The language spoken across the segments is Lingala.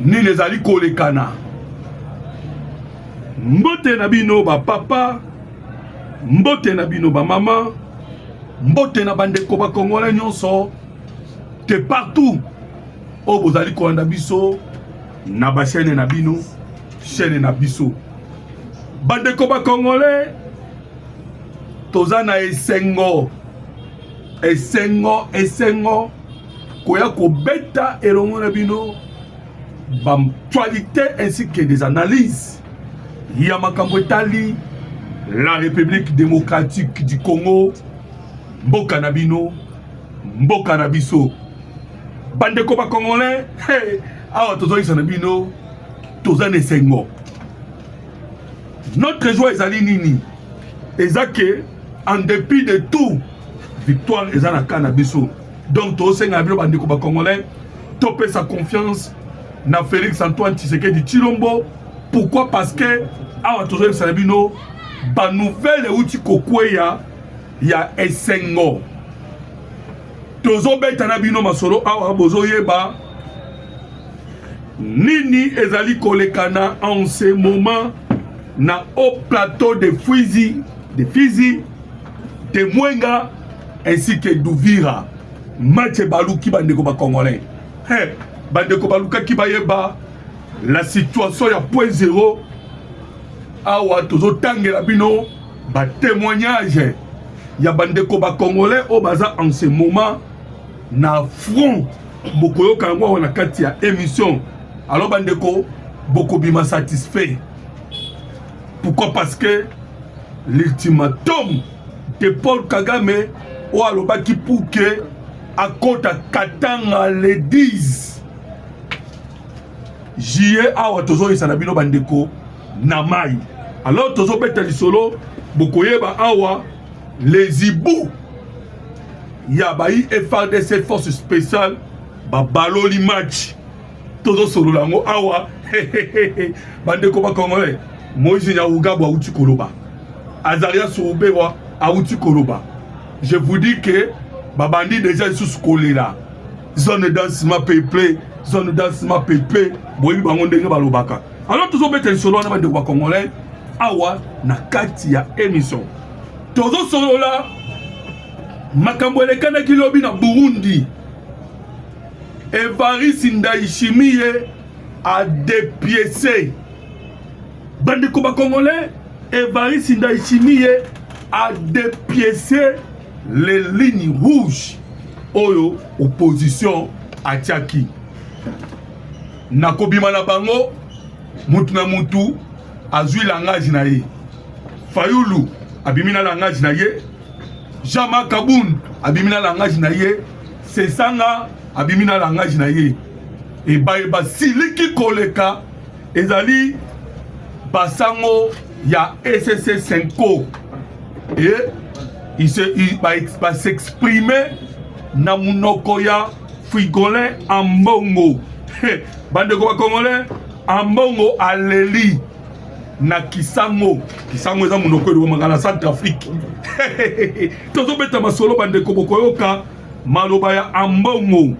nini ezali kolekana mbote na bino bapapa mbote na bino bamama mbote na bandeko bakongole nyonso te partout oyo bozali kolanda biso na bashene na bino shene na biso bandeko bakongole toza na esengo esengo esengo koya kobeta elongo na bino bactualité ainsi que des analyses ya makambo etali la république démocratique du congo mboka na bino mboka na biso bandeko bacongolais hey, awa tozoyisa na bino toza na esengo notre joie ezali nini eza ke en dépit de tout victoire eza na cas na biso donc tosenga bino bandeko bacongolais topesa confiance na félix antoine tshisekedi tshilombo pourquoi parce que awa tozoyebisa na bino banouvelle euti kokweya ya esengo tozobeta na bino masolo awa bozoyeba nini ezali kolekana en ce moment na haut plateau de Fizi, de Fizi, de Mwenga ainsi que d'Uvira match ebaluki bandeko bacongolais hey, bandeko balukaki bayeba la situation ya point zero awa tozotangela bino batémoignage ya bandeko bacongolais oyo baza en ce moment na front bokoyoka yango awa na kati ya émission alors bandeko bokobima satisfait pourquoi parce que l'ultimatum de paul kagame oyo alobaki pour que akota katanga le 10 juillet awa tozoyisa na bino bandeko na mai alors tozobeta lisolo bokoyeba awa les hiboux ya bayi FRDC force spéciale babaloli match tozosolola yango awa bandeko bakongolais moise nyawugabo awuti koloba azaria soubewa awuti koloba je vous dis que babandi deja lisusu kolela zone dansement peuple zone dansement peuple boyebi bango ndenge balobaka Alors tozobeta lisolo wana bandeko ba congolais awa na kati ya emission tozosolola makambo elekanaki lobi na burundi evarisi ndayishimiye adepiese bandeko ba congolais evarisi ndayishimiye adepiese le ligne rouge oyo opposition atiaki na kobima na bango mutu na mutu azwi langage na ye fayulu abimi na langage na ye jean marc kabund abimi na langage na ye sesanga abimi na langage na ye ebaye basiliki koleka ezali basango ya ecc senco e ba s'exprime na munoko ya Frigolin Ambongo bandeko ba Congolais Ambongo aleli na Kisango Kisango eza monoko elobamaka na Centre Afrique tozobeta masolo bandeko bokoyoka maloba ya Ambongo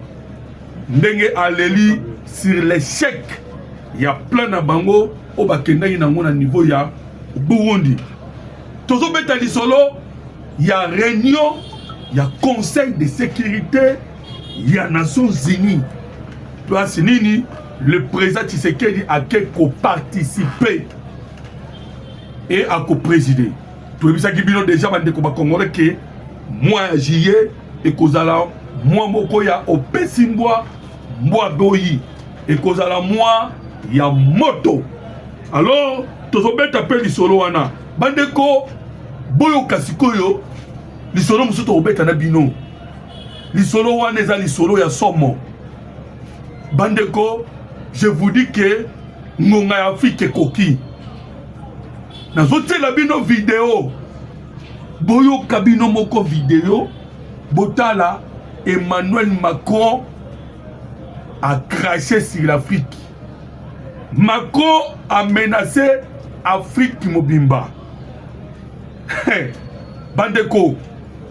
ndenge aleli sur l'échec ya plan na bango oyo bakendaki nango na niveau ya Burundi tozobeta lisolo ya reunion ya conseil de sécurité ya nations unies place nini le président tshisekedi ake koparticipe e akopreside toyebisaki bino deja bandeko bakongole ke mwa ya juillet ekozala mwa moko ya opesi mbwa mbwa boyi ekozala mwa ya moto Alors tozobeta mpe lisolo wana bandeko boyoka sikoyo lisolo mosusu tokobeta na bino lisolo wana eza lisolo ya somo bandeko je vous dis que ngonga ya afrika ekoki nazotiela bino video boyoka bino moko video botala emmanuel macron a craché sur l'afrique Macron a menacé Afrique mobimba. Bandeko,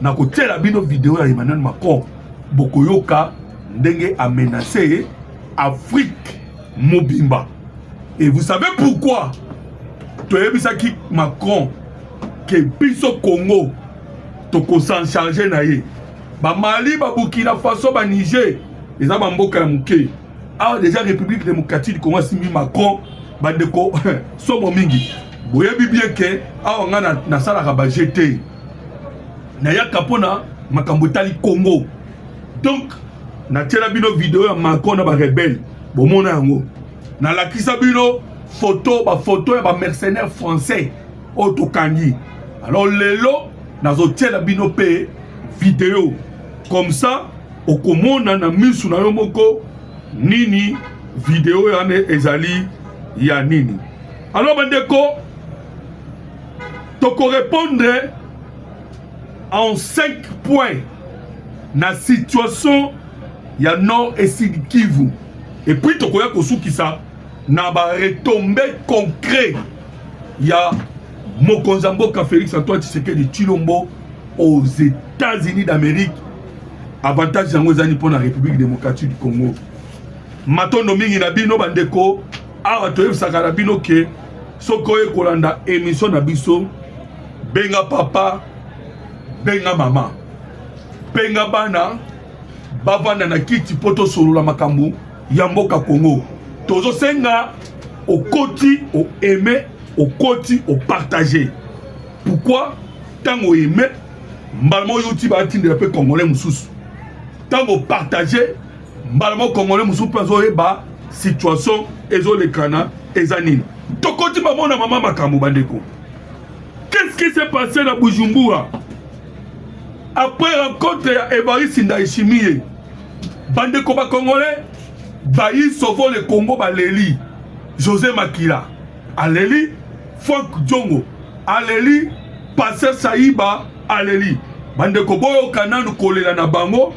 na kotiela bino video ya Emmanuel Macron, bokoyoka ndenge a menacé Afrique mobimba. Et vous savez pourquoi? Toyebisaki Macron que biso Congo toko s'en charger na ye. Ba Mali, ba Burkina Faso, ba Niger, eza ba mboka ya moke. awa deja république démocratique du congo asimbi macron bandeko somo mingi boyebi bien ke awa ngai nasalaka baje te nayaka mpona makambo etali congo donc natyela bino video ya macron na barebele bomona yango nalakisa bino foto bafoto ya bamercenaire français oyo tokangi alors lelo nazotyela bino mpe video comme ça okomona na misu na yo moko nini video yana ezali ya nini alors bandeko tokorepondre en 5 points na situation ya nord et sud kivu et puis tokoya kosukisa na baretombe concret ya mokonzi ya mboka félix antoine tshisekedi tshilombo aux états-unis d'amérique avantage yango ezali mpo na république démocratique du congo matondo mingi na bino bandeko awa toyebisaka na bino ke soki oye kolanda émission na biso benga papa benga mama benga bana bavanda na kiti mpo tosolola makambo ya mboka congo tozosenga okoti oaime okoti opartage pourquoi ntango oaime mbala moko yo tiba atindela mpe congolais mosusu ntango partage mbala moko congolais mosusu mpe azoyeba situation ezolekana eza nini tokoti bamona mama makambo bandeko qu'est-ce qui s'est passé na bujumbura après rencontre ya evariste ndayishimiye bandeko bacongolais bayi sovo le congo baleli josé makila aleli frank diongo aleli Pasteur Sayiba aleli bandeko boyoka nanu kolela na bango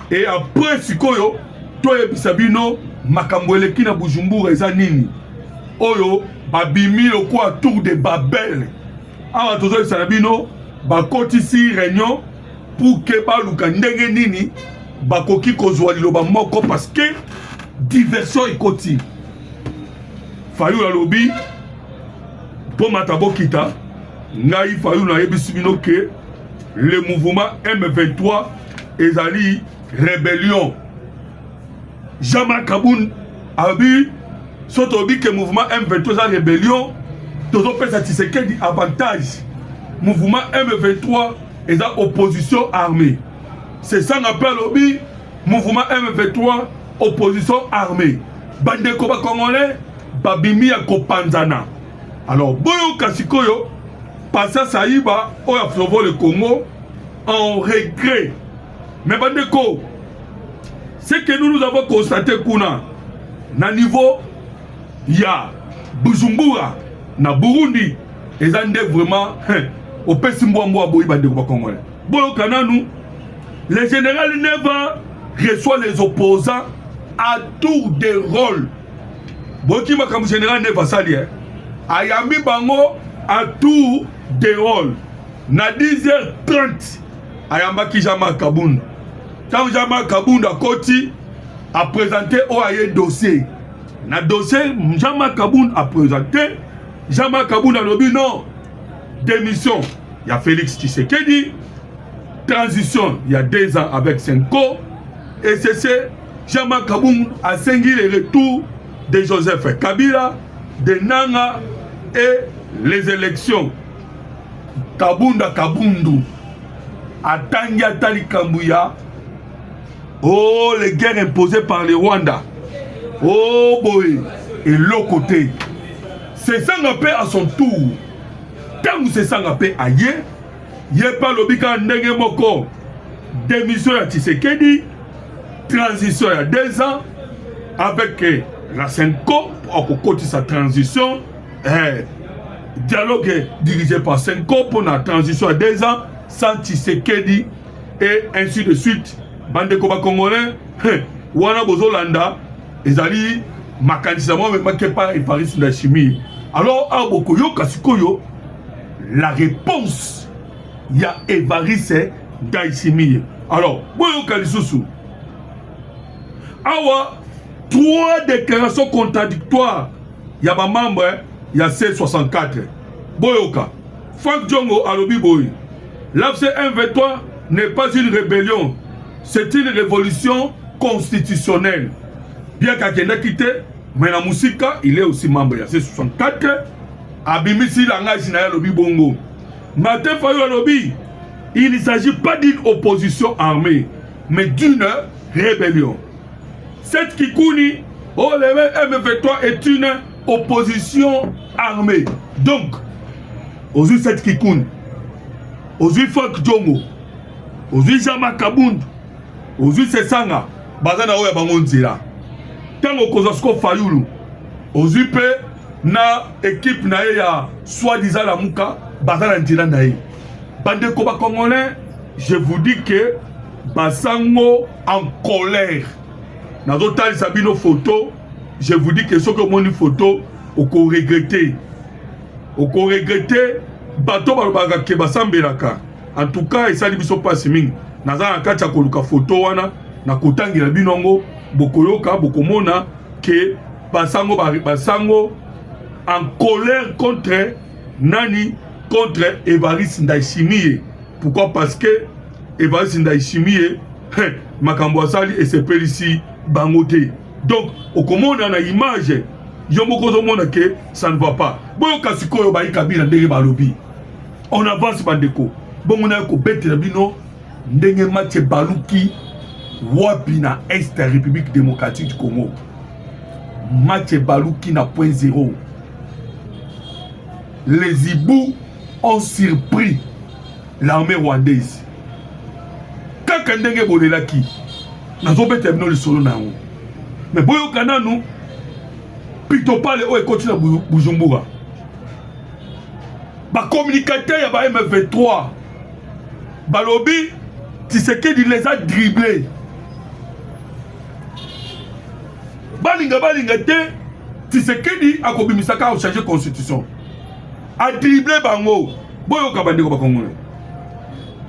e apres sikoyo toyebisa bino makambo eleki na bujumbura eza nini oyo babimi lokola tour de babel awa tozoyebisa na bino bakotisi réunion pour ke baluka ndenge nini bakoki kozwa liloba moko parce que diversion ekoti fayulu alobi Mpo mata bokita, ngai Fayulu nayebisi bino ke le mouvement M23 ezali rebellion. Jean-Marc Kabund alobi so tolobi ke mouvement M23 eza rebellion, tozopesa Tshisekedi avantage. Mouvement M23 eza opposition armée. Sesanga mpe alobi mouvement M23 opposition armée bandeko ba congolais babimi ya kopanzana alors boyoka sikoyo pasa saiba oyo aflovo le congo en regret mais bandeko ce que nous nous avons constaté kuna na niveau ya bujumbura na burundi eza nde vraiment hein, opesi mbwa mbwa boyi bandeko bakongole boyoka nanu Le général Neva reçoit les opposants à tour de rôle. Boki makambo général Neva sali hein. Ayambi bango à tour de rôle. Na 10h30 ayambaki Jean-Marc Kabund. Tant Jean-Marc Kabund akoti a présenté au aye dossier. Na dossier Jean-Marc Kabund a présenté Jean-Marc Kabund alobi non démission ya Félix Tshisekedi transition ya deux ans avec senko ecc jama kabung asengi le retour de joseph kabila de nanga et les élections kabunda kabundu atangi ata likambo ya o oh, les guerres imposées par le rwanda o oh, boye eloko te sesanga mpe à son tour ntango sesanga mpe aye ye mpe alobi kaka ndenge moko démission ya tshisekedi transition ya deux ans avec eh, la senco akokotisa transition eh, dialogue dirigé par senco mpo na transition ya deux ans sans tshisekedi et ainsi de suite bandeko bacongolais eh, wana bozolanda ezali makanisi yango amemaki epai eparis na chimie alors awa bokoyoka sikoyo la réponse ya evariste ndayisimiye alors boyoka lisusu awa trois déclarations contradictoires ya bamembre eh, ya c64 boyoka frank diongo alobi boye l'afc m23 n'est pas une rébellion c'est une révolution constitutionnelle bien kakendaki te mais na mosika il est aussi membre ya c64 abimisi langage na ye alobi bongo martin fayo alobi il ne s'agit pas d'une opposition armée mais d'une rébellion cette kikuni oh le mf3 est une opposition armée donc ozwi cette kikuni ozwi fok jongo ozwi jama kabund ozwi sesanga baza na oyo ya bango nzela ntango okozwa siko fayulu ozwi mpe na ekipe na ye ya soi-disant lamuka baza na nzela na ye bandeko bacongolais je vous dis que basango en colère nazotalisa bino foto je vous dis que soki omoni foto okoregrete okoregrete bato balobaka ke basambelaka en tout cas esali biso mpasi mingi naza na kati ya koluka foto wana nakotangela bino yango bokoyoka bokomona ke Basango ba basango en colère contre nani contre Evariste Ndayishimiye. Pourquoi? Parce que Evariste Ndayishimiye hein, makambo asali esepelisi bango te. Donc okomona na image yo moko ozomona ke ça ne va pas. Boyoka sikoyo bayi Kabila ndenge balobi. On avance bandeko. Bongo nayo kobetela bino ndenge match ebaluki wapi na est ya république démocratique du congo match ebaluki na point zero les hiboux ont surpris l'armée rwandaise kaka ndenge bolelaki nazobeta bino lisolo na yango me boyoka nanu pitopale oyo ekoti na bujumbura Ba communicateurs ya ba M23 balobi Tshisekedi les a dribblés. Balinga balinga te Tshisekedi akobimisa kaka changer constitution. A dribbler bango. Boyoka bandeko bakongolais.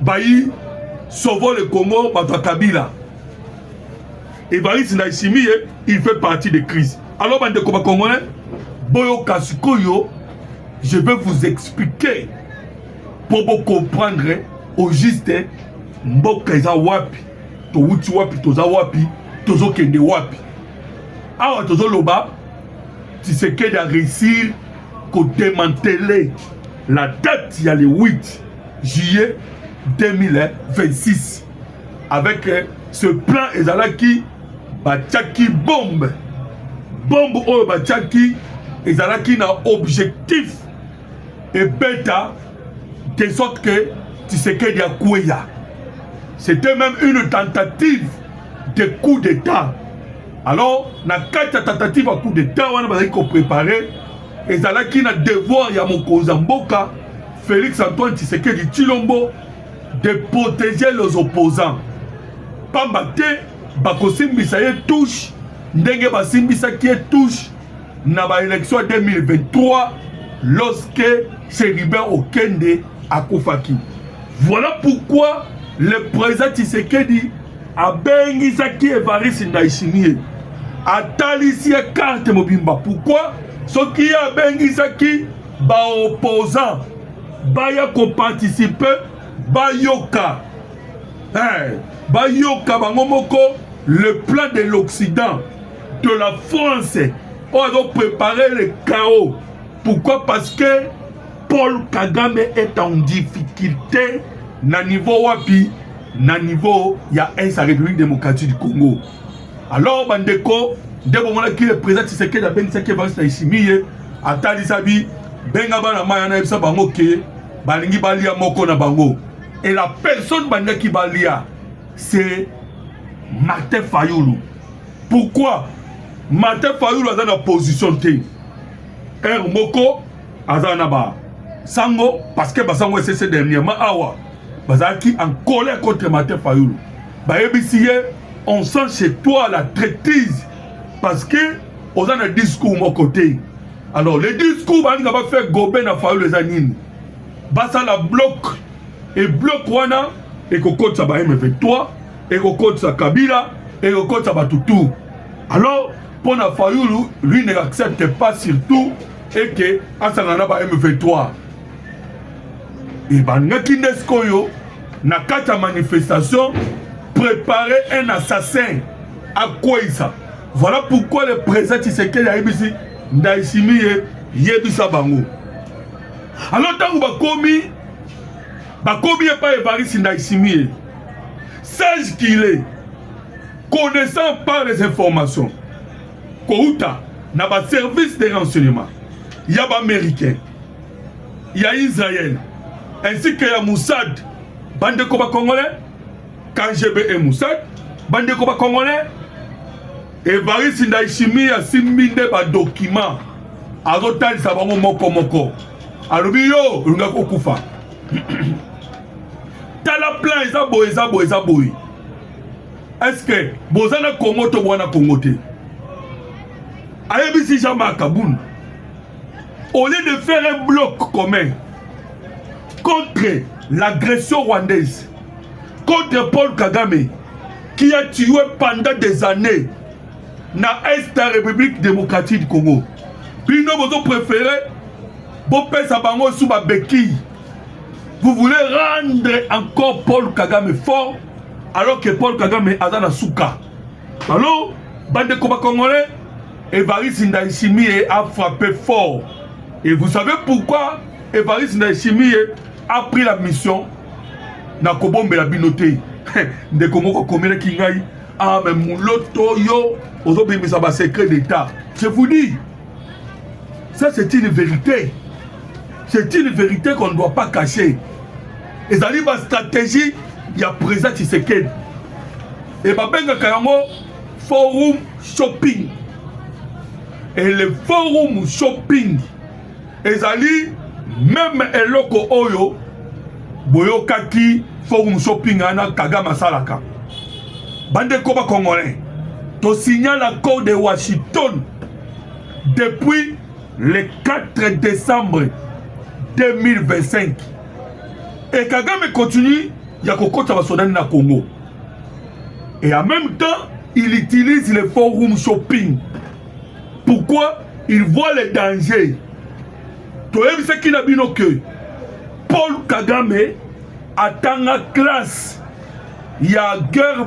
bayi sauvo le congo bato ya kabila evariste ndayisimiye il fait partie de crise alors bandeko bacongolais boyoka sikoyo je vais vous expliquer mpo bocomprendre au juste mboka eza wapi towuti wapi toza wapi tozokende wapi awa tozoloba tisekedi a réussir kodemantele la date ya le 8 juillet 2026 avec euh, ce plan ezalaki batiaki bombe bombe oyo batiaki ezalaki na objectif ebeta de sorte que tisekedi akweya c'était même une tentative de coup d'état alors na kati ya tentative ya coup d'état wana bazalaki koprépare ezalaki na devoir ya mokonzi ya mboka Felix Antoine Tshisekedi Tshilombo de protéger les opposants pamba te bakosimbisa ye touche ndenge basimbisaki ye touche na baélection ya 2023 lorsque Chérubin Okende akufaki voilà pourquoi le président Tshisekedi abengisaki evariste ndayishimiye atalisi ye karte mobimba pourkui soki ye abengisaki baopposant baya koparticipe bayoka hey, bayoka bango moko le plan de l'occident de la france oyo azoprépare le chaos pourquoi parce que paul kagame est en difficulté na niveau wapi na niveau ya est ya république démocratique du congo alors bandeko nde bomonaki le président tshisekedi abengisaki evariste na isimiye atalisa bi benga bana mai wana yebisa bango ke balingi balia moko na bango et la personne bandaki balia c'est martin fayulu pourquoi martin fayulu aza na position te heure moko aza na ba sango parce que basango esese dernièrement awa bazalaki en colère contre martin fayulu bayebisi ye on sent chez toi la traitise parce que oza na discours moko te alors le discours balinga bafaire gobe na fayulu eza nini basala bloc e bloc wana ekokotisa ba m23 ekokotisa kabila ekokotisa bato tout alors mpo na fayulu lui ne accepte pas surtout et que asangana na ba M23 ebandaki nde sikoyo na kati ya manifestation préparer un assassin akweisa voilà pourquoi le président tshisekedi ayebisi ndaisimi ye yebisa bango alors ntango bakomi bakomi epai evarisi ndaisimi ye sage qu'il est connaissant par les informations kouta na ba service de renseignement ya ba américain ya israel ainsi que ya mossad bandeko ba congolais kgb et mossad bandeko ba congolais evarisi ndayishimi asimbi nde badokima azotalisa bango moko moko alobi yo olingaki kokufa tala plan eza boye eza boye eza boye Est-ce que boza na Congo to bwana Congo te? Ayebisi Jean Marc Kabund au lieu de faire un bloc commun contre l'agression rwandaise, contre Paul Kagame qui a tué pendant des années na Est ya République démocratique du Congo. Bino bozo préférer bopesa bango sous ba béquille. Vous voulez rendre encore Paul Kagame fort alors que Paul Kagame aza na suka alors bandeko ba congolais Evariste Ndayishimiye a frappé fort et vous savez pourquoi Evariste Ndayishimiye a pris la mission na kobombela bino te ndeko moko akomelaki ngai ah mais muloto yo ozobimisa ba secret d'état je vous dis Ça, c'est une vérité. C'est une vérité qu'on ne doit pas cacher. Et ça, ma stratégie, il y a présent Tshisekedi. Et ma benga kayango, forum shopping. Et le forum shopping, ezali même eloko oyo boyokaki forum shopping ana kagame asalaka bandeko bakongolais tosignala accord de washington depuis le 4 décembre 2025 et kagame continue ya kokota basodani na congo et en même temps il utilise le forum shopping pourquoi il voit le danger toyebisaki na bino que paul kagame atanga classe ya guerre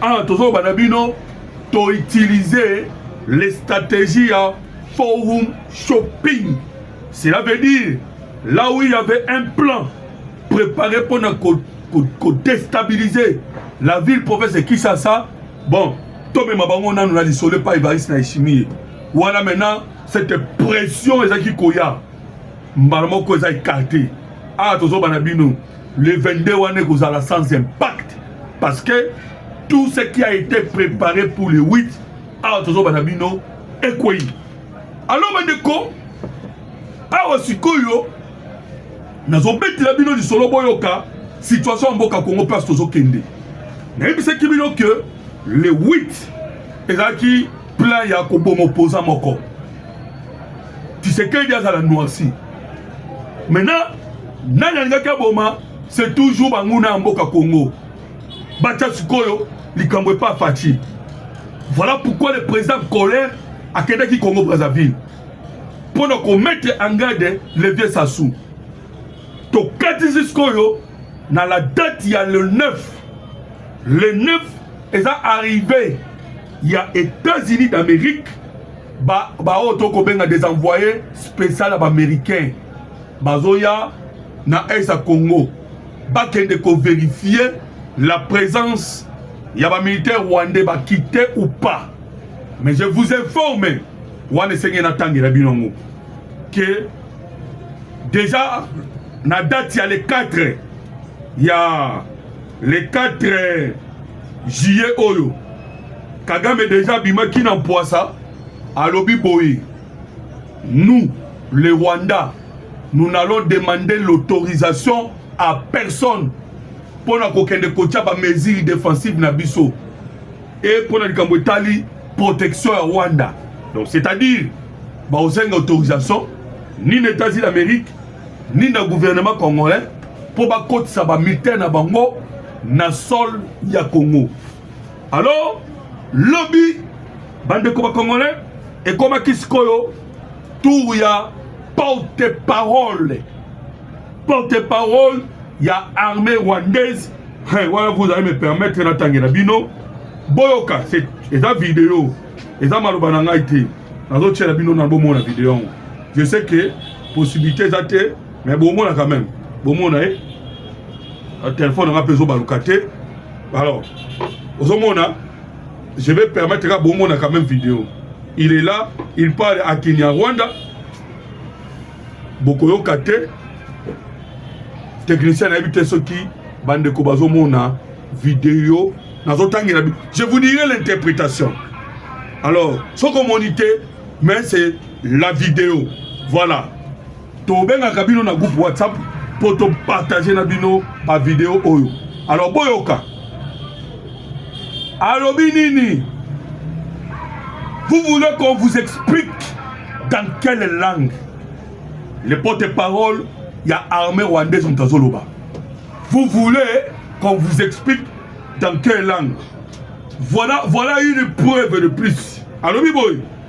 awa ah, tozoloba na bino to utiliser les stratégies ya forum shopping cela veut dire là où il y avait un plan préparé mpo na kodestabiliser la ville province de kinshasa bon tomema bango nanu na lisolo epai evariste na eshimie wana maintenant cette pression ezalaki koya mbala moko eza ekarte awa ah, tozoba na bino le 22 wana ekozala sans impact parce que tout ce qui a été préparé pour le 8 awa tozoba na bino ekwei alors bandeko awa sikoyo nazobetela bino lisolo boyoka situation ya mboka congo place tozokende nayebisaki bino ke le 8 ezalaki plan ya koboma opoza moko tisekedi azala noirci maintenant nani alingaki aboma c'est toujours banguna ya mboka congo batya sikoyo likambo epa faci voilà pourquoi le président colère akendaki congo brazzaville mpo na komettre en garde le vieux sassou tokatisi sikoyo na la date ya le 9 le 9 eza arrivé ya états-unis d'amérique baoyo ba tokobenga des envoyés spécial ya baaméricain bazoya na est ya congo bakende koverifie la présence ya bamilitaire rwandais bakite ou pas mais je vous informe wana esengeli natangela bino yango ke déjà na date ya le 4 ya le 4 juillet oyo kagame déjà abimaki na mpwasa alobi boye Nous, le Rwanda, nous n'allons demander l'autorisation à personne mpo na kokende kotya ba mesures défensives na biso e mpo na likambo etali protection ya Rwanda. Donc c'est-à-dire bakosenga autorisation ni na États-Unis d'Amérique ni na gouvernement congolais mpo bakotisa bamilitaire na bango na sol ya Congo. Alors, lobi bandeko ba congolais ekomaki sikoyo tour ya porte parole porte parole ya armée rwandaise hey, wana vous allez me permettre natangela bino boyoka eza video eza maloba na ngai te nazotyela bino na bomona video yango je sais que possibilité eza te mais bomona quand même bomona ye eh? telefone nanga mpe ezobaluka te alors ozomona je vais permettre ka bomona quand même vidéo il est là il parle à kinyarwanda bokoyoka te technicien nayebi te soki bandeko bazomona video nazotangela je vous dirai l'interprétation alors soki omoni te mais c'est la vidéo voilà tobengaka bino na groupe whatsapp mpo topartage na bino bavideo oyo alors boyoka alobi nini vous voulez qu'on vous explique dans quelle langue le porte-parole ya armée rwandaise moto azoloba vous voulez qu'on vous explique dans quelle langue voilà, voilà une preuve de plus alobi boye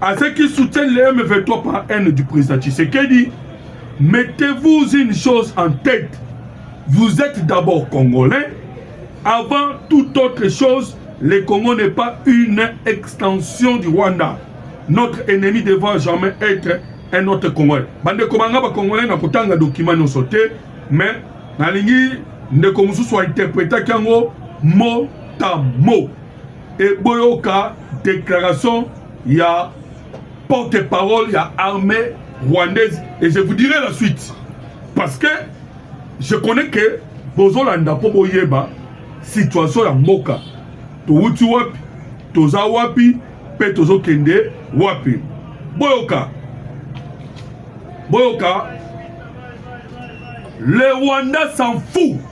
À ceux qui soutiennent les M23 par haine du président Tshisekedi, mettez-vous une chose en tête. Vous êtes d'abord Congolais. Avant toute autre chose, le Congo n'est pas une extension du Rwanda. Notre ennemi devra jamais être un autre Congolais. Bande komanga ba Congolais na kotanga document no sauté, mais nalingi ndeko mususu a interpréter kango mot à mot. e boyoka declaration ya porte parole ya armée rwandaise et je vous dirai la suite parce que je connais que bozolanda mpo boyeba situation ya mboka towuti wapi toza wapi mpe tozokende wapi boyoka boyoka le rwanda s'en fout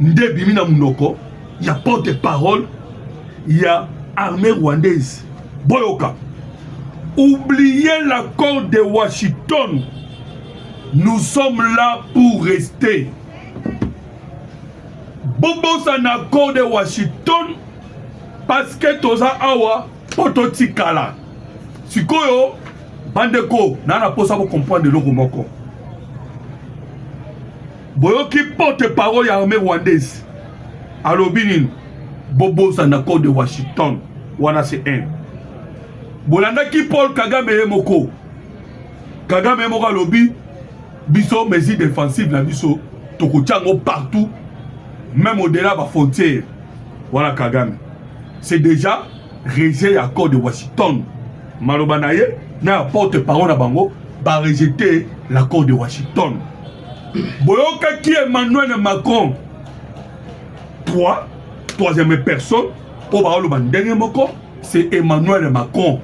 nde ebimi na munoko ya porte parole ya armée rwandaise boyoka oubliez l'accord de washington nous sommes là pour rester bobosana accord de washington parce que toza awa mpo totikala sikoyo bandeko naa na mposa bocomprendre eloko moko boyoki porte parole ya armée rwandaise alobi nini bobosana code de washington wana se 1 bolandaki paul kagame ye moko kagame ye moko alobi biso mesure défensive na biso tokotya yango partout même au-delà ba frontière wana kagame c'est déjà rejet ya accord de washington maloba na ye na ya porte parole na bango barejete l'accord de washington boyokaki emmanuel macron trois troisième personne oyo baoloba ndenge moko c'est emmanuel macron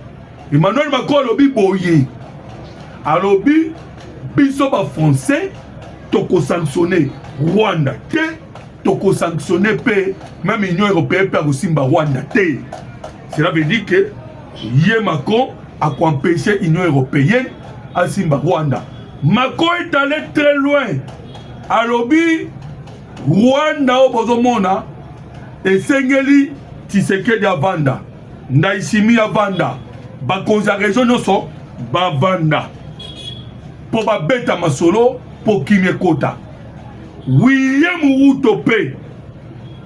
emmanuel macron alobi boye alobi biso bafrançais tokosanctionne rwanda te tokosanctionne mpe meme union européenne mpe akosimba rwanda te Cela veut dire que ye Macron a empêcher Union européenne asimba Rwanda. Macron est allé très loin. Alobi Rwanda oyo bozomona esengeli Tshisekedi avanda, Ndayishimiye avanda, bakonzi ya region nyonso bavanda mpo babeta masolo mpo kimia ekota. William Ruto mpe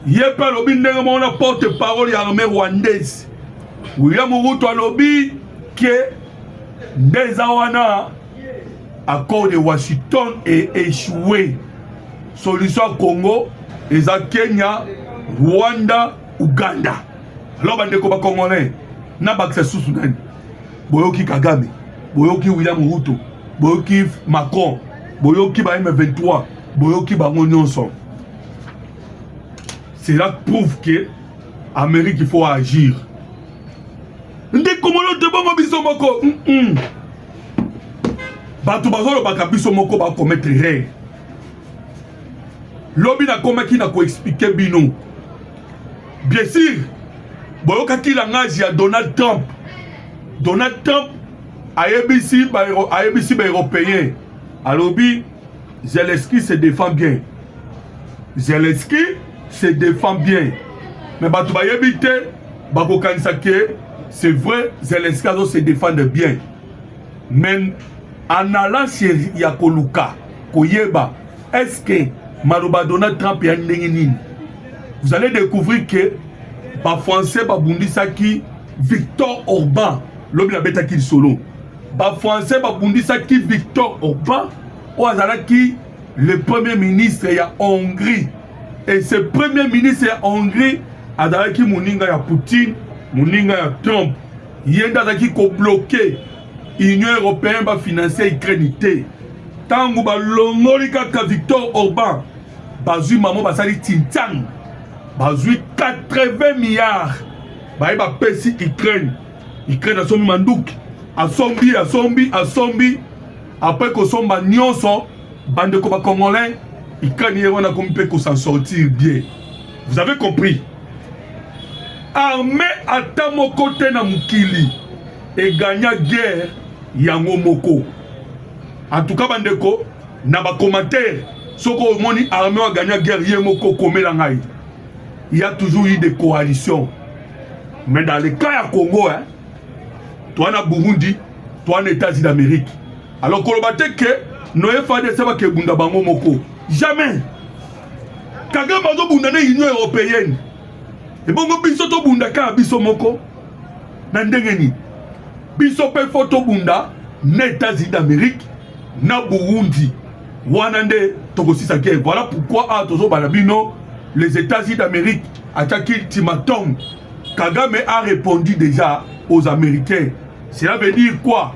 ye mpe alobi ndenge moko na porte parole ya armée rwandaise william ruto alobi ke nde eza wana accord de washington e echoue solution ya congo eza kenya rwanda uganda alors bandeko bacongolais na bakisa susu nani boyoki kagame boyoki william ruto boyoki macron boyoki ba m23 boyoki bango nyonso cela prouve que Amérique il faut agir ndeko mono te bongo biso moko mm -mm. bato bazolobaka biso moko bakometre rere lobi nakomaki na koexplike bino bien sûr boyokaki langage ya donald trump donald trump ayebisi baeuropéen alobi Zelensky se défend bien. Zelensky se défend bien. Mais bato bayebi te bakokanisa ke c'est vrai Zelensky azo se défendre bien. Mais en allant chez ya koluka koyeba est-ce que maloba Donald Trump ya ndenge nini vous allez découvrir que ba français babundisaki Victor Orban lobi nabetaki lisolo bafrançais babundisaki victor orban oyo azalaki le premier ministre ya hongrie et ce premier ministre ya hongrie azalaki moninga ya poutine moninga ya trump ye nde azalaki kobloke union européenne bafinansia ukraine te ntango balongoli kaka victor orban bazwi mamo basali tintiang bazwi 80 milliards baye bapesi ukraine Ukraine asombi manduki, asombi asombi asombi, apres kosomba nyonso bandeko ba congolais, Ukraine ye wana akomi mpe kosa sortir bien. Vous avez compris? Armée ata moko te na mokili egagna guerre yango moko. En tout cas bandeko, na ba commentaires, soko omoni armée agagna guerre ye moko komela ngai. Il y a toujours eu des coalitions. Mais dans le cas ya Congo, hein, toi na Burundi, toi na États-Unis d'Amérique. Alors koloba te que noye FADC bakebunda bango moko. Jamais. Kagame azobunda na Union européenne. Ebongo biso tobunda kaka biso moko na ndenge nini? Biso mpe fo tobunda na États-Unis d'Amérique na Burundi wana nde tokosisa guerre voilà pourquoi awa ah, tozobala bino les États-Unis d'Amérique atiaki ultimatum Kagame a répondu déjà aux Américains cela veut dire quoi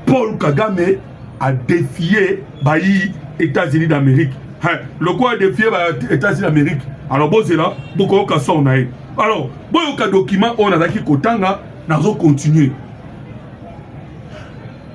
Paul Kagame a défié bayi États-Unis d'Amérique hein, lokola a défié ba États-Unis d'Amérique alors bozela bokoyoka sor na ye alors boyoka document oyo nazalaki kotanga nazo continuer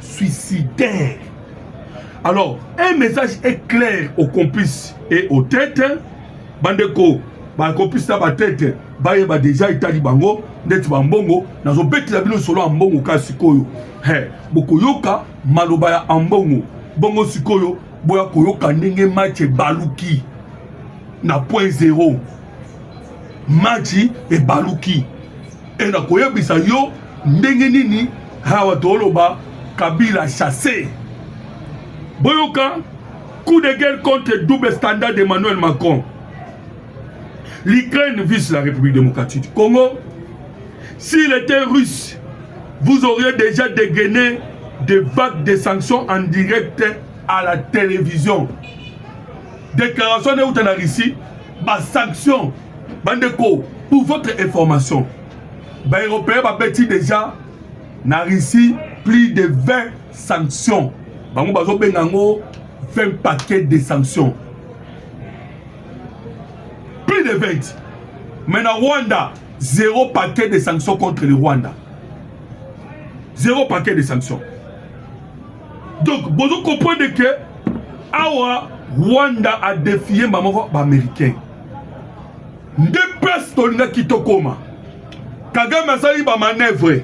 suicidaire. Alors, un message est clair aux complices et aux têtes. Bandeko, ba complices na ba têtes, bayeba déjà etali bango ndeti ba mbongo nazobetela bino solo ya mbongo ka sikoyo he bokoyoka maloba ya ambongo bongo sikoyo boya koyoka ndenge match ebaluki na point zero maji ebaluki e na koyebisa yo ndenge nini awa toloba kabila chasse boyoka coup de guerre contre double standard d'emmanuel macron l'ukraine vise la république démocratique du congo s'il était russe vous auriez déjà dégainé des vagues de sanctions en direct à la télévision déclaration neuta na russie ba sanctions bandeko pour votre information ba européens babeti déjà na russie plus de 20 sanctions bango bazobenga yango 20 paquets de sanctions plus de 20 mais na rwanda zéro paquet de sanctions contre le rwanda zéro paquet de sanctions Donc bozo comprendre que awa Rwanda a défié mbamoko ba américain nde place tolingaki tokoma Kagame asali ba manœuvre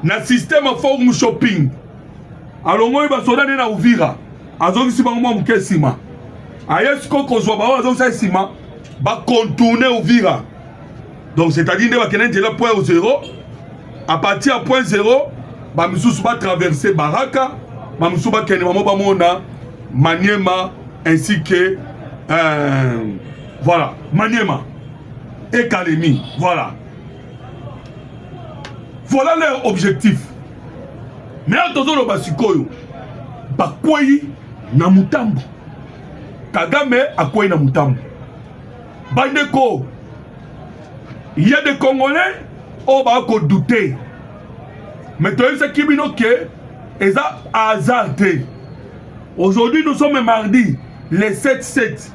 na système ya forum shopping alongoli basoda nde na Uvira azongisi bango mwa moke nsima aye sikoyo kozwa baoyo azongisa nsima bakontourne Uvira donc c'est-à-dire nde bakenda nzela point au zero à partir ya point zero bamisusu batraverse baraka bamisusu bakende bango bamona maniema ainsi que euh, voilà maniema et kalemi voilà voilà leur objectif mais awa tozoloba sikoyo bakwei na motambo kagame akwei na motambo Bandeko, il y a des Congolais oyo baa kodute mais toyebisaki bino ke eza hasard te aujourd'hui nous sommes mardi le 7 7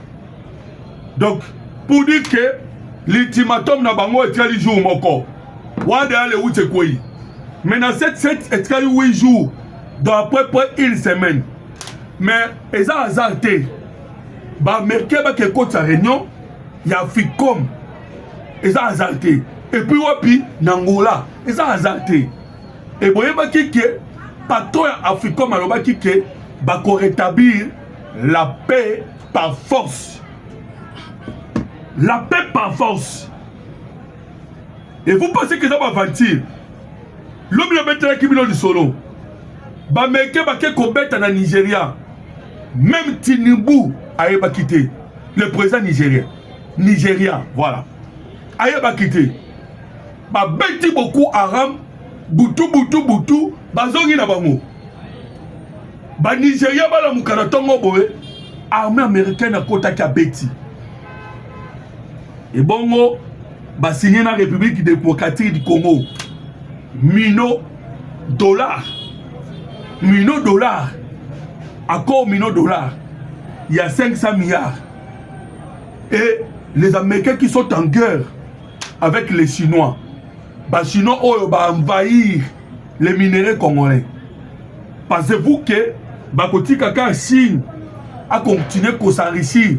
donc pour dire ke l'ultimatum na bango etikali jour moko wana deya le wuti ekwei mais na 7 7 etikali 8 jours dans à peu près une semaine mais eza hasard te ba américain bake ekotisa réunion ya africom eza hasard te epuis wapi na ngola eza hasard te e boyebaki ke patron ya africom alobaki ke bakoretablir la paix par force la paix par force et vous pensez que eza baventure lobi nabetelaki bino lisolo bameke bake kobeta na nigeria Même Tinubu ayebaki te le président nigérien nigérian voilà ayebaki te babeti beaucoup aram butu butu butu bazongi na bango banigeria balamuka na ntongo boye armée américaine akotaki abeti ebongo basigne na république démocratique du congo mino dollar mino dollar accord mino dollar il y a 500 milliards et les américains qui sont en guerre avec les chinois bachinois oyo baenvahir les minerais congolais pensez-vous que bakotika kaka chine akontinue kosenrichir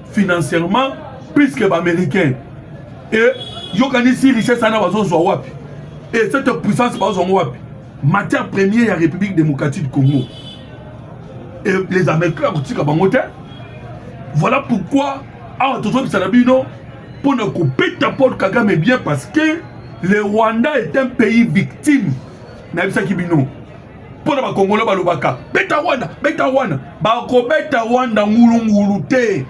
financièrement plus que baaméricain e yokanisi richesse wana bazozwa wapi e cette puissance bazozwa yango wapi matière première ya république démocratique du congo e les américains akotika bango te voilà pourquoi awa tozobisa na bino mpo na kobeta paul kagame bien parce que le rwanda est un pays victime nayebisaki bino mpo na bakongolo balobaka beta rwanda beta rwanda bakobeta rwanda ngulungulu te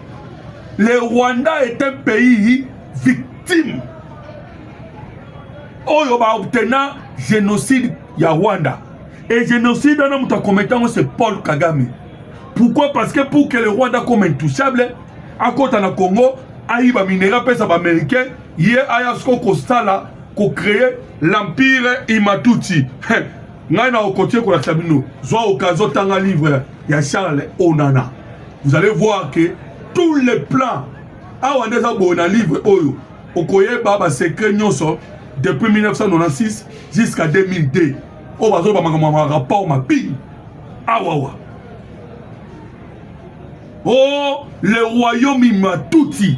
le rwanda est un pays victime oyo baobtena génocide ya rwanda e génocide wana moto akometa yango c'est paul kagame pourquoi parce que pour que le rwanda comme intouchable akota na congo ayiba minere apesa baaméricain ye aya siko kosala kocreye l'empire imatuti ngai na okotie kolakisa bino zwa okazo tanga livre ya charles onana vous allez voir que tous les plans awa nde eza boye na livre oyo okoyeba basecret nyonso depuis 1996 jusqu'à 2002 oyo bazoloba makambo ma rapport mabini awawa o oh, le royaume imatuti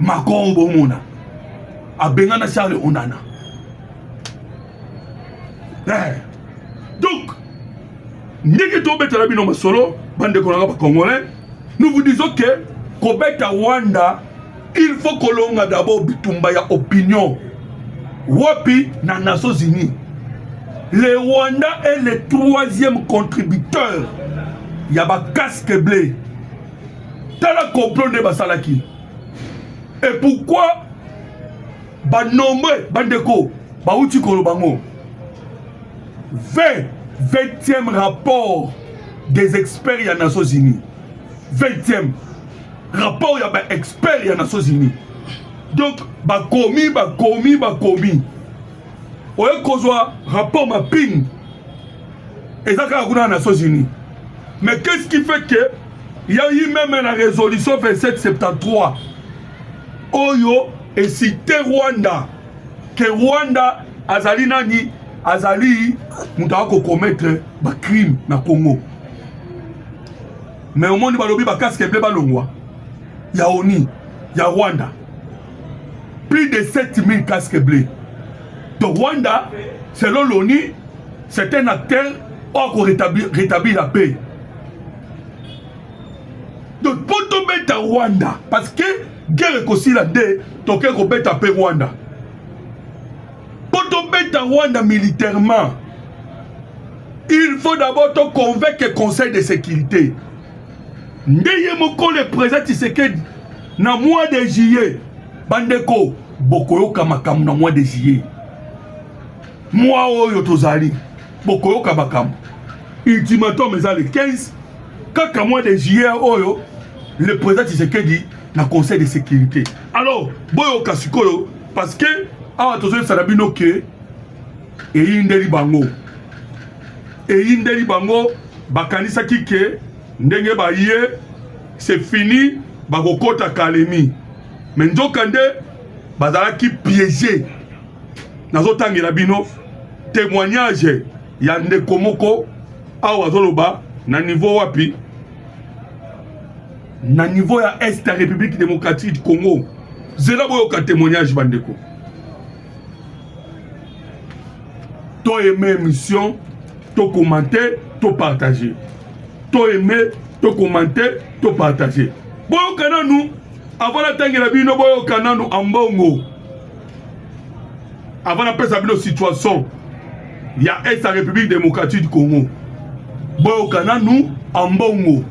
Macron bomona abengana Charles Onana eh. donc ndenge tobetela bino masolo bandeko nanga bacongolais nous vous disons que kobeta rwanda il faut kolonga d'abord bitumba ya opinion wapi na nations unies le rwanda est le troisième contributeur ya bacasque bleu tala complot nde basalaki et pourquoi banombre bandeko bauti koloba ngo 20 20e rapport des experts ya nations unies 20e rapport ya baexpert ya nations unies donc bakomi bakomi bakomi oye kozwa rapport mapping eza kaka kuna na nations unis mais qu'est ce qui fait que ya yi meme na résolution 2773 oyo esite rwanda ke rwanda azali nani azali moto aya kokometre bacrime na congo mais omoni balobi bakaske ble balongwa ya oni ya rwanda Plus de 7000 casques bleus. Donc Rwanda, selon l'ONU, c'est un acteur oyo ko rétablir, rétablir la paix. Donc mpo tobeta Rwanda parce que guerre ekosila nde toke kobeta mpe Rwanda. Mpo tobeta Rwanda militairement, il faut d'abord to convaincre Conseil de sécurité. nde ye moko le président Tshisekedi na mois de juillet bandeko bokoyoka makambo na mois de juillet mwa oyo tozali bokoyoka makambo ultimatum eza le 15 kaka mois de juillet oyo le président Tshisekedi na conseil de sécurité alors boyoka sikoyo parce que awa tozoyebisa na bino ke eyindeli bango eyindeli bango bakanisaki ke ndenge baye c'est fini bakokota kalemi me nzoka nde bazalaki piege nazotangela bino témoignage ya ndeko moko awa azoloba na niveau wapi na niveau ya est ya république démocratique du congo zela boyoka témoignage bandeko to aime émission to commenter to partager to aime to commenter to partager boyoka nanu avant natangela bino boyoka nanu ambongo avant napesa bino situation ya est ya république démocratique du congo boyoka nanu ambongo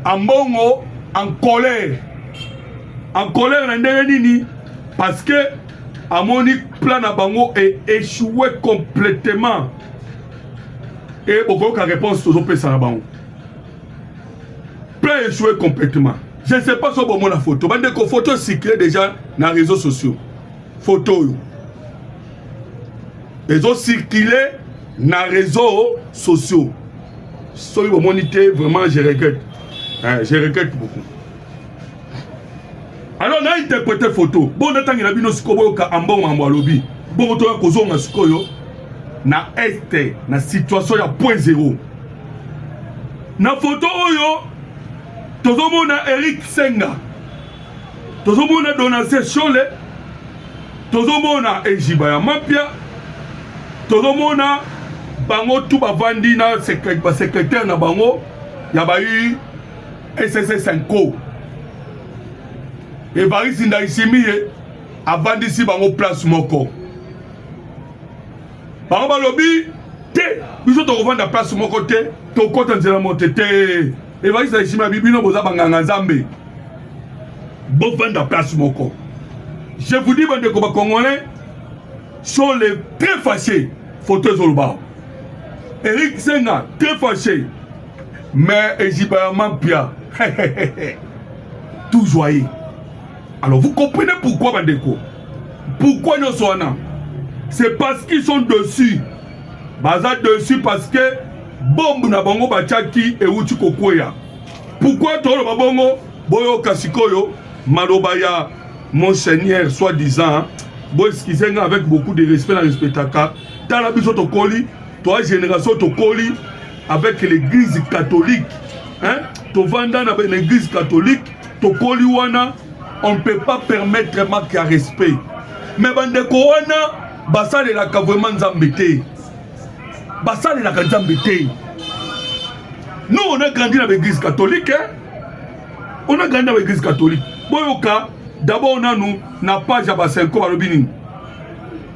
ambongo en colère en colère na ndenge nini parce que amoni plan na bango e échoué complètement e bokoyoka réponse tozopesa na bango plan échoué complètement je ne sais pas so bomona photo bandeko photo circule déjà na réseaux sociaux photo oyo ezo circule na réseaux sociaux soki bomoni te vraiment je regrette eh, je regrette beaucoup alors na interprete photo bo natangela bino sikoyo boyoka ambongo makambo alobi bongo toya kozonga sikoyo na este na situation ya point zero na foto oyo tozomona eric senga tozomona donase shole tozomona ejiba ya mapia tozomona bango tu bavandi na basekretere na bango ya bai sss nko evarisi ndayisimiye avandisi bango place moko bango balobi te biso tokovanda place moko te tokota nzela moko te te evarisi ndayisimiye abi bino boza banganga nzambe bovanda place moko je vous dis bandeko bacongolais sont les très fâchés photo ezoloba eric senga très fâché mais eziba ya mampia tout joyeux alors vous comprenez pourquoi bandeko pourquoi nyonso wana c'est parce qu'ils sont dessus baza dessus parce que bombe na bango batiaki euti kokweya pourquoi toloba bongo boyoka sikoyo maloba ya monseigneur soit disant boeskize nga avec beaucoup de respect na respectaka tala biso tokoli Toi génération tokoli avec l'église catholique hein? tovanda na ben église catholique tokoli wana on ne peut pas permettre manque ya respect mais bandeko wana basalelaka vraiment nzambe te basalelaka nzambe te nous on a grandi na baeglise catholique hein? on a grandi na baeglise catholique boyoka d'abord nanu na page ya basenko balobi nini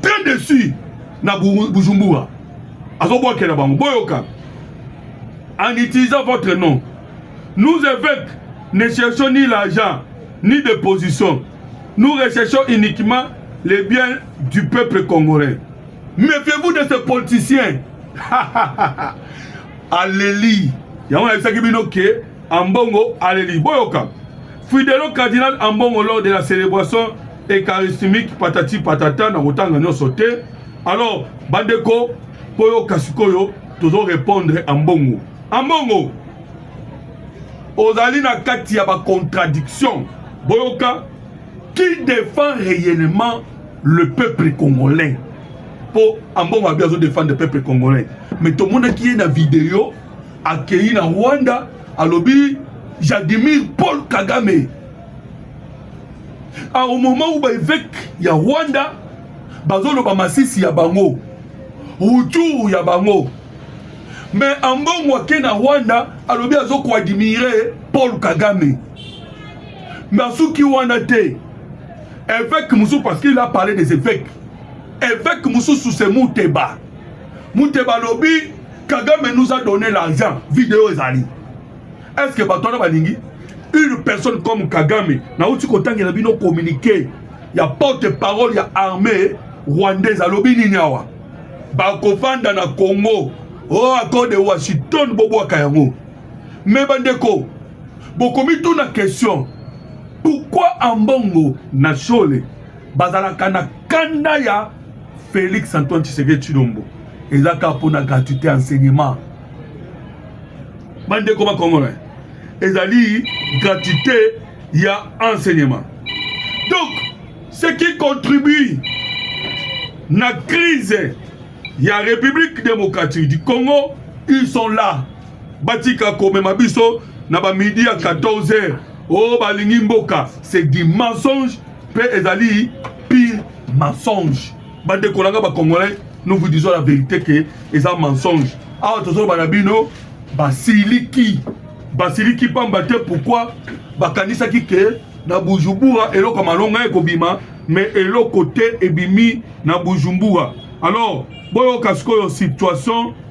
très déçu na bujumbura azobwakela bango boyoka en utilisant votre nom nous évêques ne cherchons ni l'argent ni de position nous recherchons uniquement les biens du peuple congolais méfiez-vous de ce politicien aleli yango nayebisaki bino ke ambongo aleli boyoka fidelo cardinal ambongo lors de la célébration ekaristimique patati patata na kotanga nyonso te alors bandeko mpo yoka sikoyo tozo répondre ambongo ambongo ozali na kati ya bacontradiction boyoka qui défend réellement le peuple congolais mpo ambongo abi azodefendre peuple congolais mais tomonaki ye na video akei na rwanda alobi jadimir paul kagame a au moment où baeveke ya rwanda bazoloba masisi ya bango ruturu ya bango me ambongo ake na rwanda alobi azokoadimire paul kagame me asuki wana te eveke mosusu parce qu'il a parlé des eveke eveke mosusu se muteba muteba alobi kagame nous a donné l'argent video ezali est ce que bato wana balingi une personne comme kagame nauti kotangela bino communiqué ya porte parole ya armée rwandaise alobi nini awa bakofanda na congo o oh, accord de washington bobwaka yango me bandeko bokomituna question pourquoi ambongo na shole bazalaka na kanda ya félix antoine tshisekedi tshilombo eza kaka mpo na gratuité enseignement bandeko ba congolais ezali gratuité ya enseignement donc ce qui contribue na crise ya république démocratique du congo ils sont là batika komema biso na bamidi ya 14 heures o oh, balingi mboka c'est du mensonge mpe ezali pire mensonge bandeko na nga bacongolais nous vous disons la vérité ke eza mensonge awa tozoloba na bino basiliki basiliki pamba te pourquoi bakanisaki ke na bujumbura eloko ya malonga ekobima me eloko te ebimi na bujumbura alors boyoka sikoyo situation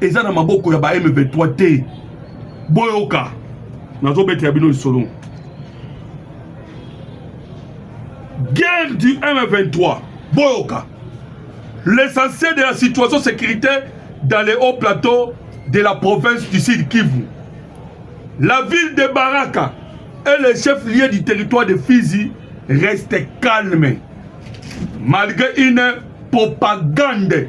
eza na maboko ya ba M23 te boyoka nazobetela bino lisolo guerre du M23 boyoka l'essentiel de la situation sécuritaire dans les hauts plateaux de la province du Sud Kivu la ville de Baraka et le chef lieu du territoire de Fizi restent calmes malgré une propagande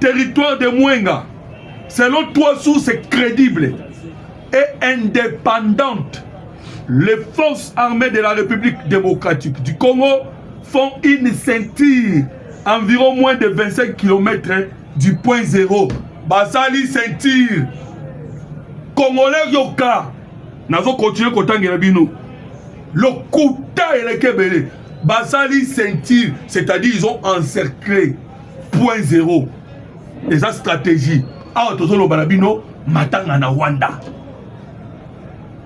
Territoire de Mwenga, selon trois sources crédibles et indépendantes, les forces armées de la République démocratique du Congo font une ceinture environ moins de 25 km du point zéro. Basali ceinture. Congolais yoka. Nazo continuer kotangela bino. Lokuta elekebele. Basali ceinture, c'est-à-dire ils ont encerclé point zero eza stratégie awa tozoloba na bino matanga na rwanda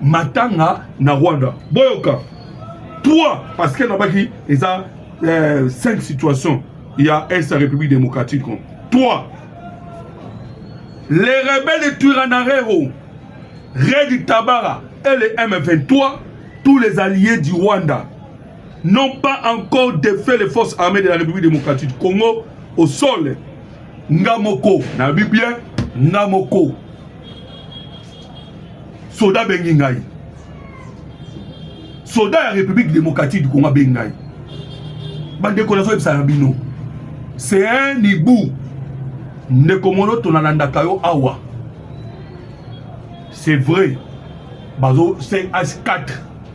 matanga na rwanda boyoka 3 parce que nabaki eza 5 euh, situation ya est ya république démocratique 3 les rebelles de turanarero redi tabara et le m23 tous les alliés du rwanda n'ont pas encore défait les forces armées de la République démocratique du Congo au sol. Ngamoko, na bien, Ngamoko. Soda Bengingaï. Soda la République démocratique du Congo Bengingaï. Bande konazo ebsarabino. C'est un hibou. Ndeko mono tonalandaka yo awa. C'est vrai. Bazo c'est H4.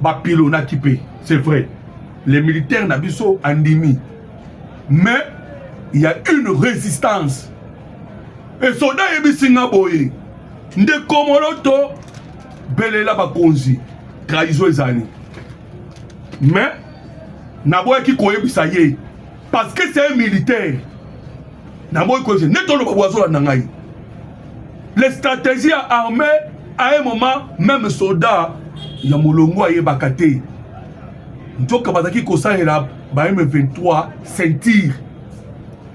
bapilonaki mpe c'est vrai les militaires na biso andimi mais il y a une résistance et soda ayebisi nga boye nde komoloto belela bakonzi trahison ezali mais naboyaki koyebisa ye parce que c'est un militaire naboyi koyebisa nde toloba bwazolanda ngai le stratégie ya armée à un moment même soldat ya molongo ayebaka te nzoka bazalaki kosalela ba m23 ceinture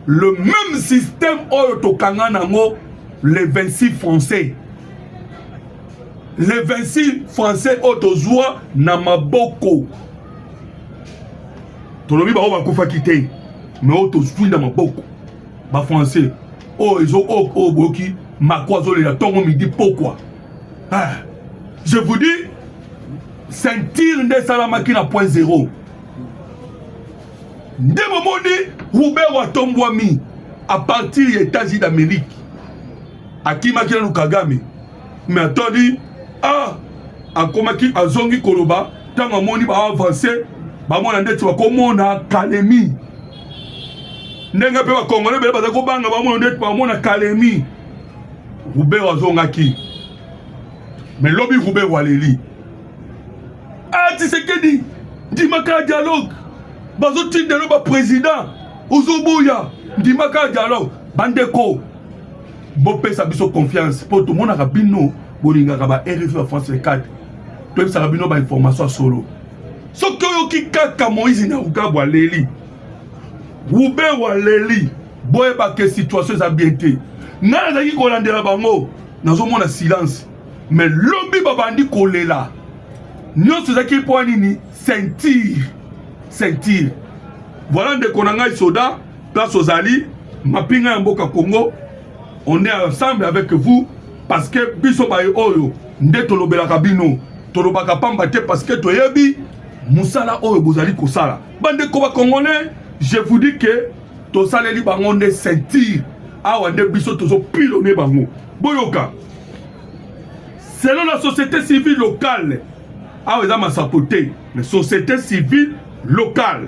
le même système oyo tokanga nango le 26 français le 26 français oyo tozwa na maboko tolobi baoyo bakufaki te me oyo tozwi na maboko bafrançais oyo ezo oyo oh, oh, boyoki mako azolela ntongo midi pokwa ah, je vous dis ceinture nde esalamaki na point zero nde bomoni rubero atombwami à partir ya états-unis d'amérique akimaki nanu kagame me atoni ah, akomaki azongi koloba ntango amoni baavanse bamona ndeti bakomona kalemi ndenge mpe bakongole bele baza kobanga bamona ndeti bamona kalemi rubero azongaki me lobi rubero aleli atisekedi ah, ndimaka dialogue bazotindelo baprésident ozoboya ndimaka dialogue bandeko bopesa biso confiance mpo tomonaka bino bolingaka ba rfi ya france 4 toyebisaka bino bainformation ya solo soki oyoki kaka moïse nyarugabo aleli ruben aleli boyebake situation eza bien te ngai nazalaki kolandela bango nazomona silence mais lobi babandi kolela nyonso ezalaki mpo nini ceinture ceinture voilà ndeko na ngai soda place ozali mapinga ya mboka congo on est ensemble avec vous parce que biso baye oyo nde tolobelaka bino tolobaka pamba te parce que toyebi mosala oyo bozali kosala bandeko bacongolais je vous dis que tosaleli bango nde ceinture awa nde biso tozopilone bango boyoka selon la société civile locale awa eza masapo te mais société civile locale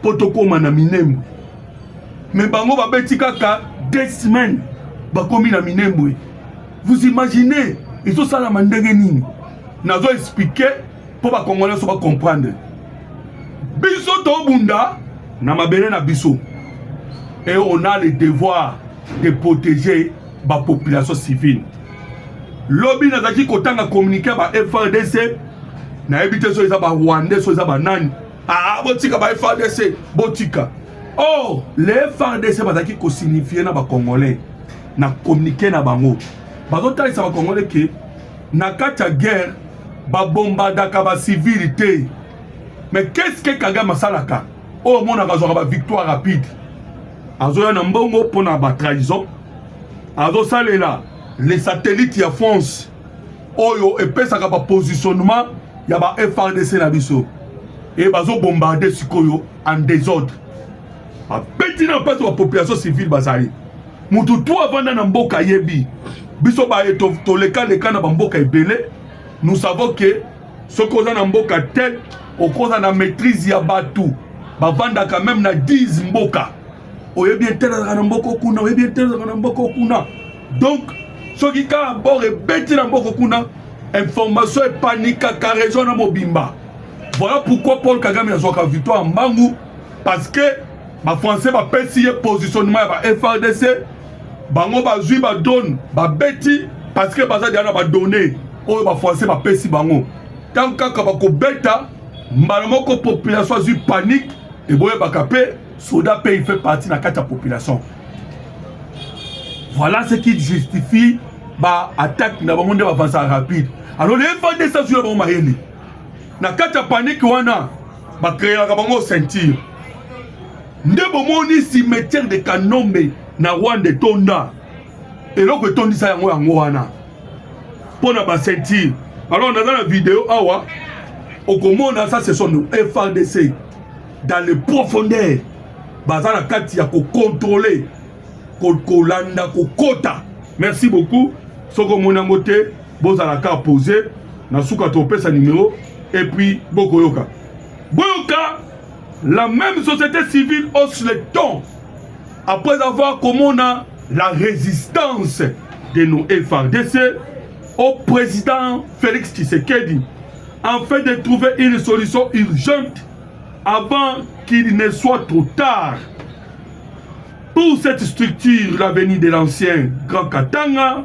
mpo tokóma na minembwe me bango babeti kaka deux semaines bakomi na minembwe vous imaginez ezosalama ndenge nini nazo explike mpo bakongole nyonso bacomprendre biso tobunda na mabele na biso et on a le devoir de protéger bapopulation civile lobi nazalaki kotanga communiqué ya ba frdc nayebi te so eza barwandais so eza banani Ah, botika ba FARDC, botika. Or, les FARDC bazalaki ko signifier na ba Congolais na communiquer na bango. Bazotalisa ba Congolais ke na kati ya guerre babombardaka ba civil te. Mais qu'est-ce que Kagame asalaka? Oyo omonaka azwaka ba victoire rapide. Azoya na mbongo mpo na ba trahison. Azosalela les satellites ya France oyo epesaka ba positionnement ya ba FRDC na biso et bazo bombarder sikoyo en désordre babeti na mpasi ba population civile bazali mutu tu avanda na mboka ayebi biso baye tolekaleka na bamboka ebele nous savons ke soki oza na mboka tel okoza na maîtrise ya bato bavandaka meme na 10 mboka oyebi etelelaka na mboka okuna oyebi etelelaka na mboka okuna donc soki kaka bor ebeti na mboko kuna information epanikaka region na mobimba voilà pourquoi paul kagame azwaka victoire ya mbangu parce que bafrançais bapesi ye positionnement ya ba frdc bango bazwi badrone babeti parce que baza deya na badonne oyo bafrançais bapesi bango ntango kaka bakobeta mbala moko population azwi panique eboyebaka mpe soda mpe il fait partie na kati ya population voilà ce qui justifie ba attaque na bango nde bavansa rapide alors le fds azwi na bango mayele na kati ya panike wana bakreaka bango ceinture nde bomoni cimetière de kanombe na rwanda etonda eloko etondisa yango yango wana mpo na baceinture alors naza na video awa okomona ça ce sont frdc dans le profondeur baza na kati ya kokontrole kolanda kokota merci beaucoup soki omoni yango te bozala ka pose na suka topesa numero et puis bokoyoka boyoka la même société civile hausse le temps après avoir komona la résistance de nos FRDC au président Félix Tshisekedi afin de trouver une solution urgente avant qu'il ne soit trop tard pour cette structure l'avenir de l'ancien Grand Katanga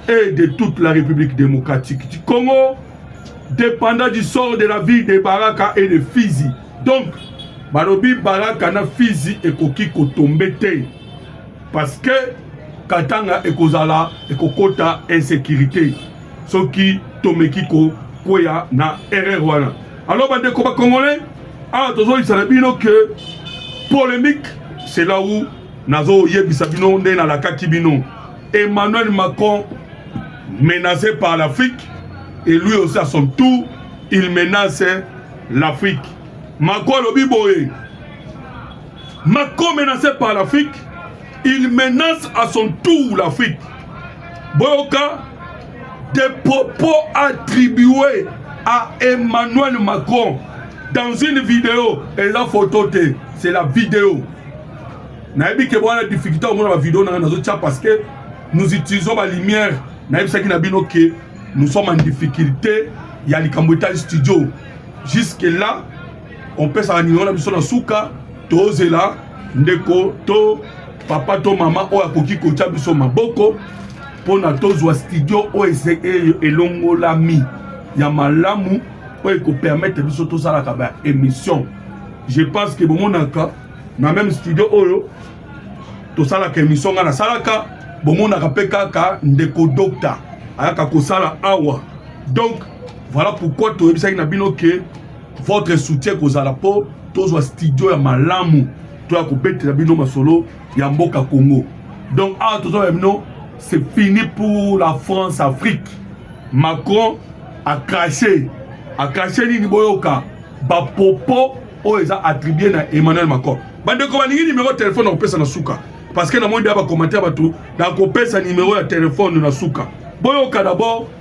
et de toute la République démocratique du Congo, dépendant du sort de la ville de Baraka et de Fizi. Donc, balobi Baraka na Fizi ekoki kotombe te parce que Katanga ekozala ekokota insécurité soki tomeki ko kweya na erreur wana Alors bandeko ba congolais awa tozoyebisa na bino ke polemique c'est là où nazoyebisa bino nde nalakaki bino Emmanuel Macron menacé par l'Afrique et lui aussi à son tour il menace l'Afrique Macron alobi boye Macron menacé par l'Afrique il menace à son tour l'Afrique boyoka des propos attribués à Emmanuel Macron dans une vidéo eza photo te c'est la vidéo nayebi ke bwana difficulté omona bavideo nanga nazotya parce que nous utilisons balumière nayebisaki na bino ke nous sommes en difficulté ya likambo etali studio jusque là opesaka nino na biso na suka tozela ndeko to papa to mama oyo akoki kotya biso maboko mpo na tozwa studio oyo elongolami ya malamu oyo ekopermettre biso tosalaka ba émission je pense que bomonaka na même studio oyo tosalaka émission ngai nasalaka bomonaka mpe kaka ndeko dokta ayaka kosala awa donc voilà pourquoi toyebisaki na bino ke votre soutien ekozala mpo tozwa studio ya malamu to ya kobetela bino masolo ya mboka congo donc awa tozoba bino c'est fini pour la france afrique macron acrache acrache nini boyoka bapopo oyo eza attribue na emmanuel macron bandeko balingi nimero ya telefone nakopesa na suka parce que namoni deya bacommentaire bato nakopesa nimero ya telefone na suka boyoka dabord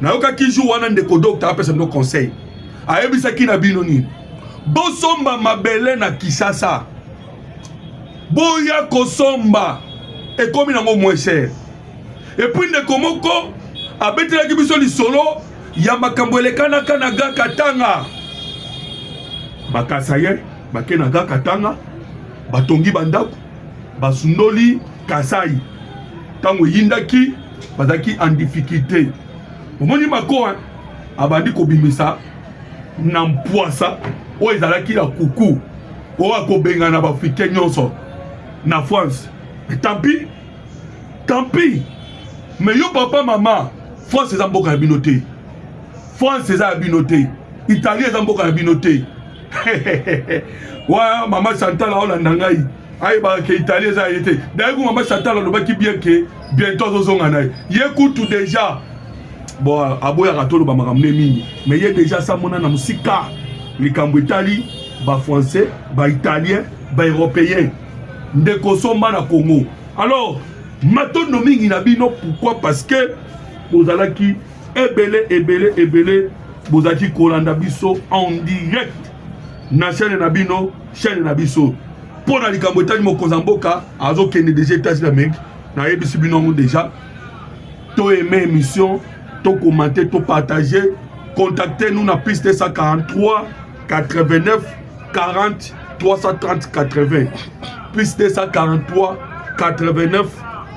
nayokaki jour wana ndeko docteur apesa bino conseil ayebisaki na bino nini bosomba mabele na kisasa boya kosomba ekomi nango moins cher epuis ndeko moko abetelaki biso lisolo ya makambo elekanaka na ga katanga bakasaye bake na ga katanga batongi bandako basundoli kasai ntango eyindaki bazalaki en difficulté omoni mako abandi kobimisa na mpwasa oyo ezalaki ya kuku oyo akobengana baafricain nyonso na france tampi tampi me yo papa mama france eza mboka ya bino te france eza ya bino te italie eza mboka ya bino te wa mama santala olanda ngai ayebaka ke italie eza ye te daye ku mama santala alobaki bien ke bientôt azozonga na ye ye kutu deja bo aboyaka toloba makambo nde mingi me ye deja asamona na mosika likambo etali bafrançais baitalien baeuropéen nde kosomba na congo alors matondo mingi na bino pourquoi parce que bozalaki ebele ebele ebele bozalaki kolanda biso en direct na chaîne na bino chaîne na biso mpo na likambo etali mokonzi ya mboka azokende deja etats d'amérique nayebisi bino yango deja to aime émission to commente to partage contacte nous na piste 143 89 40 330 80 plus 243 89